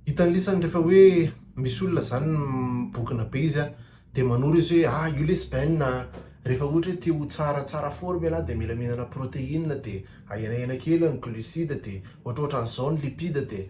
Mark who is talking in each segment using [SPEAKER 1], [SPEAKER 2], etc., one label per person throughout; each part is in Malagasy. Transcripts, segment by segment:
[SPEAKER 1] Hitan'ny lisany rehefa hoe misy olona zany mibokona be izy a, dia manoro izy hoe ah io lesy bainina a, rehefa ohatra hoe te ho tsara tsara forme ialahy dia mila mihinana protéine dia ahenahena kely ny glucide dia ohatrohatran izao ny lipide dia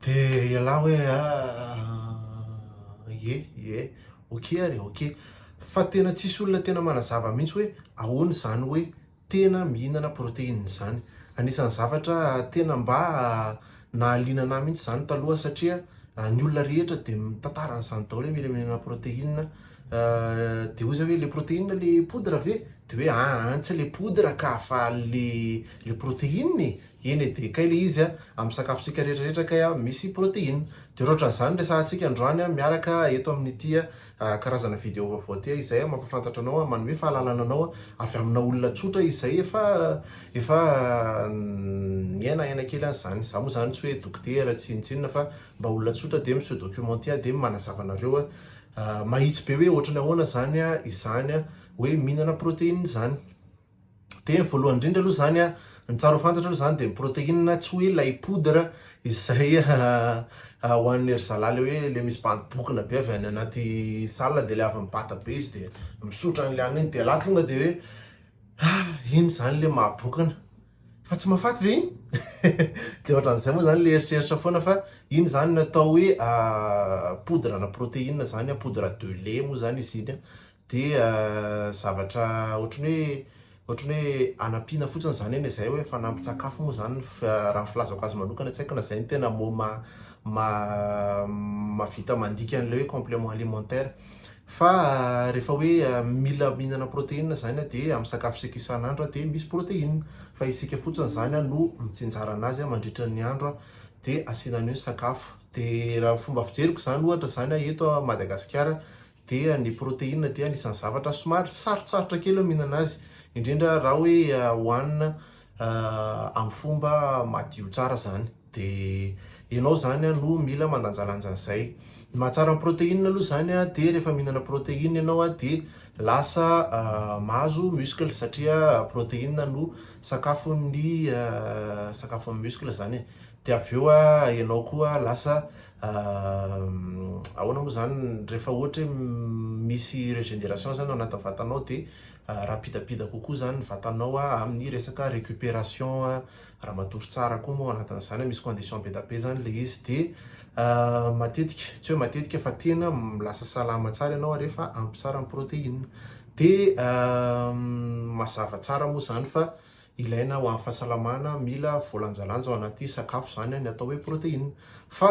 [SPEAKER 1] dia ialahy hoe ah ye ye ok ary ok fa tena tsisy olona tena manazava mihintsy hoe ahoana izany hoe tena mihinana protéine izany. Anisan'ny zavatra tena mba nahaliana anah mihitsy izany taloha satria ny olona rehetra dia mitantara an'izany daholo hoe mila mihinana protéine dia hoy zah hoe le protéine le poudre ve? dia hoe aa tsy le poudre ka fa le le protéine e! eny e dia kay le izy a, amin'ny sakafontsika rehetrarehetra kay a misy protéine dia raha ohatran'izany resahantsika androany miaraka eto amin'ity a. karazana video vaovao tia izay mampafantatra anao manome fahalalana anao avy amina olona tsotra izay efa efa niaina aina kely an'izany za moa zany tsy hoe dokotera tsy inona tsy inona fa mba olona tsotra dia mi se documenter dia manazava anareo mahitsy be hoe ohatrany ahoana izany izany hoe mihinana protéine izany dia voalohany indrindra aloha izany an, ny tsara ho fantatra aloha izany dia ny protéine tsy hoe ilay poudre izay hohanin'ny ry zalahy ilay hoe ilay misy bandy bokona be avy any anaty salle dia ilay avy mibata be izy dia misotra an'ilay hanina iny dia ialahy tonga dia hoe ah iny izany ilay mahabokona fa tsy mahafaty ve iny? dia ohatran'izay moa izany ilay eritreritra foana fa iny izany no atao hoe poudre ana protéine izany an, poudre de lait moa izany izy iny an, Dia zavatra ohatran'ny hoe ohatran'ny hoe hanampiana fotsiny izany anie izay hoe fanampin-tsakafo moa izany raha ny filazako azy manokana, tsy haiko na izay no tena mot ma- ma- mahavita mandika an'ilay hoe complément alimentaire. Fa rehefa hoe mila mihinana protéine izany aho dia amin'ny sakafo isika isan'andro aho dia misy protéine, fa isika fotsiny izany no mitsinjara an'azy mandritra ny andro dia asiana an'io ny sakafo. Dia raha ny fomba fijeriko izany ohatra izany eto Madagasikara dia ny protéine dia anisan'ny zavatra somary sarotsarotra kely ny mihinana azy indrindra raha hoe hohanina amin'ny fomba madio tsara izany dia ianao izany no mila mandanjalanja an'izay. Ny mahatsara ny protéine aloha izany dia rehefa mihinana protéine ianao dia lasa mahazo muscle satria protéine no sakafon'ny sakafon'ny muscle izany e, dia avy eo ianao koa lasa Ahoana moa izany rehefa ohatra hoe misy regénération izany ao anatin'ny vatanao dia rapidapida kokoa izany ny vatanao amin'ny resaka récupération raha matory tsara koa moa ao anatin'izany misy condition be dia be izany ilay izy dia matetika, tsy hoe matetika fa tena lasa salama tsara ianao rehefa ampy tsara ny protéine dia mazava tsara moa izany fa ilaina ho an'ny fahasalamana, mila voalanjalanja ao anaty sakafo izany ny atao hoe protéine. Fa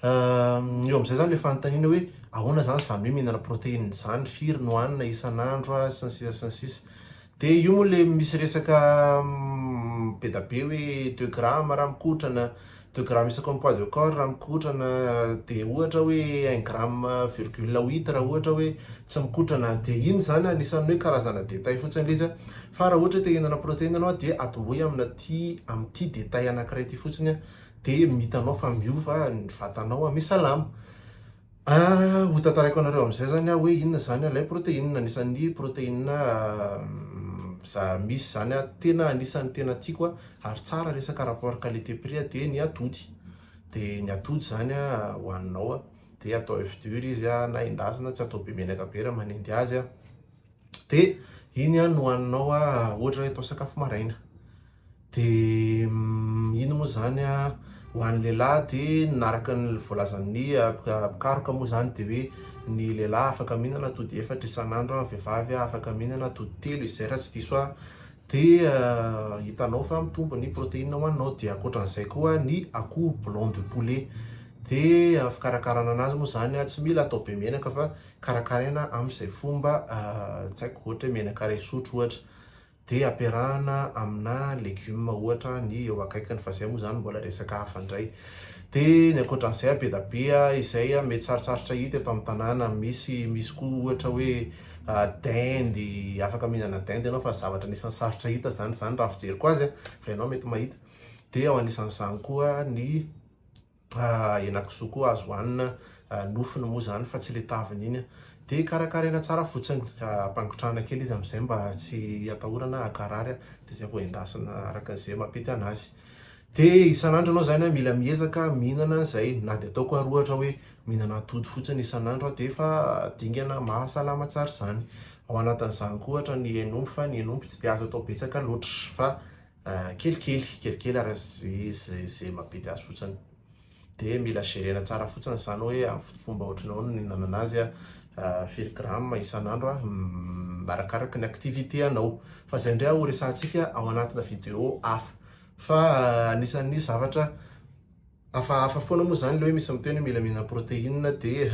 [SPEAKER 1] eo amin'izay zany ilay fanontaniana hoe ahoana zany izany hoe mihinana protéine izany, firy no hanina isan'andro sy ny sisa sy ny sisa. Dia io moa ilay misy resaka be dia be hoe deux grammes raha mikotrana, De gramme isaky ny poids de corps raha mikotrana dia ohatra hoe un gramme virgule huit raha ohatra hoe tsy mikotrana, dia iny izany anisan'ny hoe karazana détail fotsiny ilay izy, fa raha ohatra hoe te hihinana protéine ianao dia atombohy amina ity amin'ity détail anankiray ity fotsiny dia mitanao fa miova ny vatanao, misalama. Ah, ho tantaraiko anareo amin'izay izany aho hoe inona izany ilay protéine, anisan'ny protéine za misy izany aho, tena anisan'ny tena tiako aho, ary tsara resaka rapport qualité prix aho dia ny atody, dia ny atody izany an hohaninao an, dia atao oeuf dur izy an, na endasina, tsy atao be menaka be raha manendy azy an. de iny a no haninao a ohatra hoe atao sakafo maraina de iny moa zany a ho an'ny lehilahy de naraka ny voalazan'ny mpikaroka moa zany de hoe ny lehilahy afaka mihinana atody efatra isan'andro a, ny vehivavy afaka mihinana atody telo izay raha tsy diso ahy de hitanao fa mitombo ny protéine ho anao de ankoatran'izay koa ny akoho blanc de poulet de fikarakarana anazy moa zany a tsy mila atao be menaka fa karakaraina amin'izay fomba tsy haiko ohatra hoe menaka iray sotro ohatra dia ampiarahana amina legioma ohatra ny eo akaikiny fa izay moa izany mbola resaka hafa indray dia ny ankoatran'izay be dia be izay mety sarotsarotra hita eto amin'ny tanàna misy misy koa ohatra hoe dendy afaka mihinana dendy ianao fa zavatra anisan'ny sarotra hita izany izany raha ny fijeriko azy fa ianao mety mahita dia ao anisan'izany koa ny henakisoa koa azo hanina, nofony moa izany fa tsy ilay taviny iny an! Dia karakaraina tsara fotsiny, ampangotrahana kely izy amin'izay mba tsy hatahorana hankarary an! Dia izay vao endasina araka izay mampety an'azy. Dia isan'andro ianao izany an, mila miezaka mihinana an'izay, na dia ataoko ary ohatra hoe mihinana atody fotsiny isan'andro aho dia efa dingana mahasalama tsara izany. Ao anatin'izany koa ohatra ny hen'omby fa ny hen'omby tsy dia azo atao betsaka loatra fa Kelikely, kelikely ary ze mampety azy fotsiny dia mila gerena tsara fotsiny zany hoe amin'ny fomba ohatran'ny ahoana no ihinanana azy, firy grammes isan'andro, arakaraka ny activité anao, fa zay ndray ho resahantsika ao anatina vidéo hafa, fa anisan'ny zavatra. Hafahafa foana moa izany ilay hoe misy miteny hoe mila mihinana protéine dia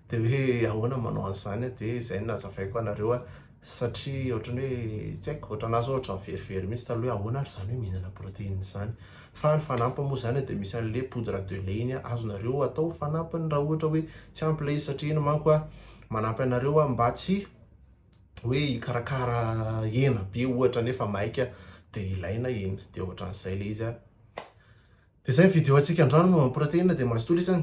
[SPEAKER 1] dia hoe ahoana ny manao an'izany a? dia izay no nazavaiko anareo a! satria ohatran'ny hoe tsy haiko, ohatranà zao ohatran'ny verivery mihitsy taloha hoe ahoana ary izany hoe mihinana protéine izany? fa ny fanampiny moa izany dia misy an'ilay poudre de lait iny a, azonareo atao ho fanampiny raha ohatra hoe tsy ampy ilay izy satria iny manko a manampy anareo a mba tsy hoe hikarakara hena be ohatra nefa maika dia ilaina iny dia ohatran'izay ilay izy a dia izay ny video antsika androany momba ny protéine dia mazotoa lesy an!